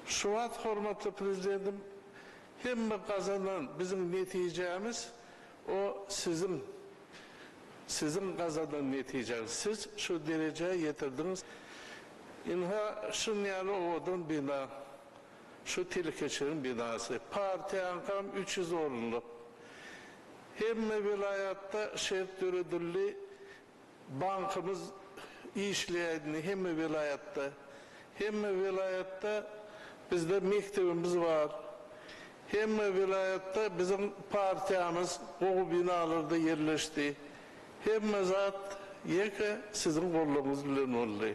Şu wagt hormatly Prezidentim hemme gazanan biziň netijämiz o siziň siziň gazanan netijäňiz siz şu derejä ýetirdiňiz ynha şun ýaly owadan bina şu telekeçileriň binasy partiýaňkam üç ýüz orunlyk hemme welaýatda şert döredildi Bankymyz işleýäýdini hemme welaýatda. Hemme welaýatda bizde mekdebimiz bar. Hemme welaýatda biziň partiýamyz gowy binalarda ýerleşdi. Hemme zat ýeke siziň gollaryňyz bilen boldy.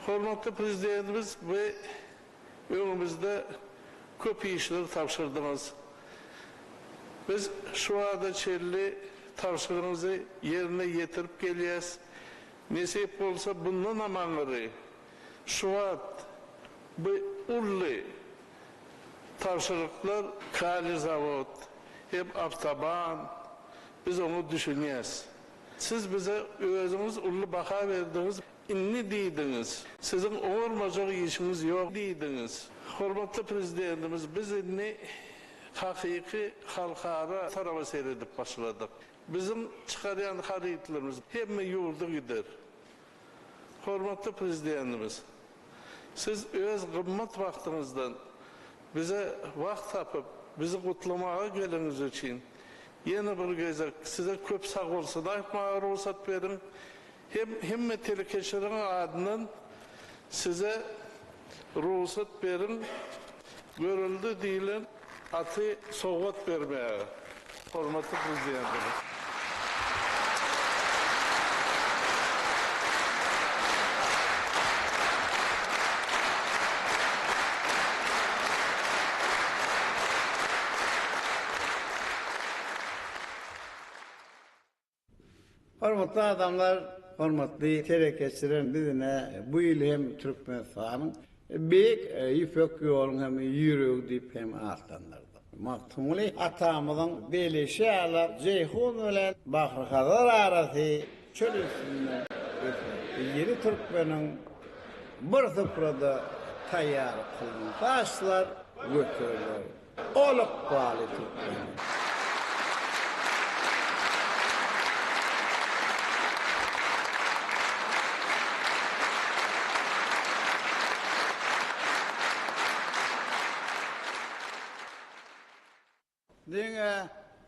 Hormatly Prezidentimiz bu Öňümizde köp işleri tabşyrdyňyz. Biz şu wagta çenli tabşyryňyzy ýerine ýetirip gelýäs. Nesip bolsa bundanam aňyry şu wagt bu uly tabşyryklar Kali zawod hem awtoban biz oňa düşünýäs. Siz bize özüňiz uly baha berdiňiz. Indi diýdiňiz, siziň oňarmajak işiňiz ýok diýdiňiz. Hormatly Prezidentimiz, biz indi hakyky halkara taraba seredip başladyk. Biziň çykarýan harytlarymyz hemme ýurda gider. Hormatly Prezidentimiz, siz öz gymmat wagtyňyzdan bize wagt tapyp, bizi gutlamaga geleniňiz üçin ýene bir gezek size köp sagbolsun aýtmaga rugsat beriň. Hem hemme telekeçileriň adyndan size rugsat beriň Görelde diýlen aty sowgat bermäge, hormatly Prezidentimiz. Hormatly adamlar, hormatly telekeçiler, biz ine bu ýyl hem Türkmenistanyň Beýik Ýüpek ýoluň hem ýüregi diýip hem atlandyrdyk. Magtymguly atamyzyň belişi ýaly Jeýhun bilen Bahryhazar arasy çöl üstünde geçer. Ýedi türkmeniň bir suprada taýýarlyk kylynsa aşlar göteriler. Ol ykbaly türkmen. Diňe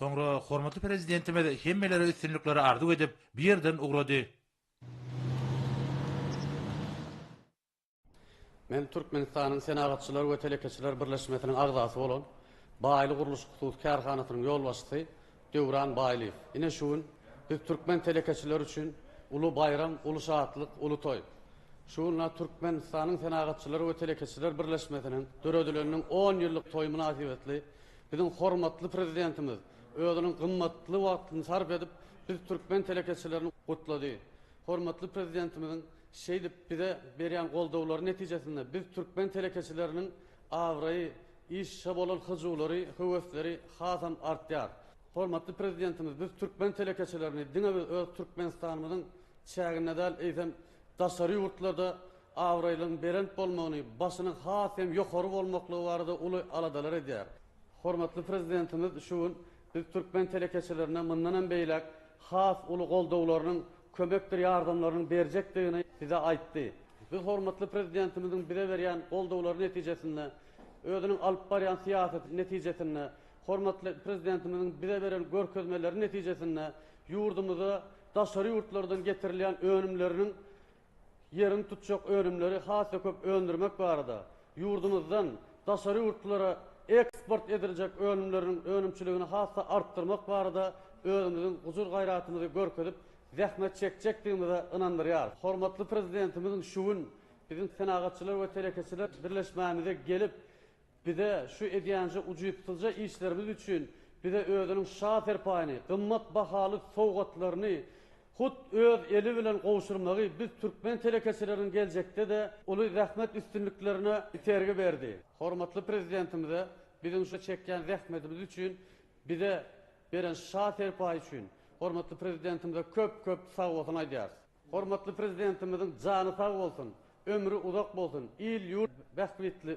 Soňra hormatly Prezidentimiz hemmelere üstünlikleri arzuw edip, bu ýerden ugrady. Men Türkmenistanyň Senagatçylar we telekeçiler birleşmesiniň agzasy bolan Baýly gurluşyk hususy kärhanasynyň ýolbaşçysy Döwran Baýlyýew. Ine şu gün biz türkmen telekeçileri üçin uly baýram, uly şatlyk, uly toý. Şu günler Türkmenistanyň Senagatçylar we telekeçiler birleşmesiniň döredileniniň on ýyllyk toýy mynasybetli Biziň hormatly Prezidentimiz özüniň gymmatly wagtyny sarp edip, biz türkmen telekeçilerini gutlady. Hormatly Prezidentimiziň şeýdip bize berýän goldawlary netijesinde biz türkmen telekeçileriniň abraýy, işe bolan hyjuwlary, höwesleri hasam artýar. Hormatly Prezidentimiz biz türkmen telekeçilerini diňe biz öz Türkmenistanymyzyň çäginde däl, eýsem daşary ýurtlarda abraýlygyň belent bolmagyny, başynyň has hem ýokary bolmaklygy barada uly aladalar edýär. Hormatly Prezidentimiz şu gün biz türkmen telekeçilerine mundan hem beýläk has uly goldawlarynyň, kömekdir ýardamlarynyň berjekdigini bize aýtdy. Biz hormatly Prezidentimiziň bize berýän goldawlary netijesinde, özüniň alyp barýan syýasaty netijesinde, hormatly Prezidentimiziň bize beren görkezmeleri netijesinde ýurdumyza daşary ýurtlardan getirilýän önümleriniň ýeriň tutjak önümleri has-da köp öndürmek barada, ýurdumyzdan daşary ýurtlara eksport ediljek önümleriniň önümçiligini has-da artdyrmak barada özümiziň gujur-gaýratymyzy görkezip, zähmet çekjekdigimize ynandyrýarys. Hormatly Prezidentimiziň şu gün biziň Senagatçylar we telekeçiler birleşmämize gelip, Bize şu edýänje ujypsyzja işlerimiz üçin bize özüniň şa serpaýyny, gymmat bahaly sowgatlaryny hut öz eli bilen gowşurmagy biz türkmen telekeçileriniň geljekde-de uly zähmet üstünliklerine itergi berdi. Hormatly Prezidentimize biziň şu çekýän zähmetimiz üçin bize beren şa serpaýy üçin hormatly Prezidentimize köp-köp sagbolsun aýdýarys. Hormatly Prezidentimiziň jany sag bolsun, ömri uzak bolsun, il-ýurt bähbitli.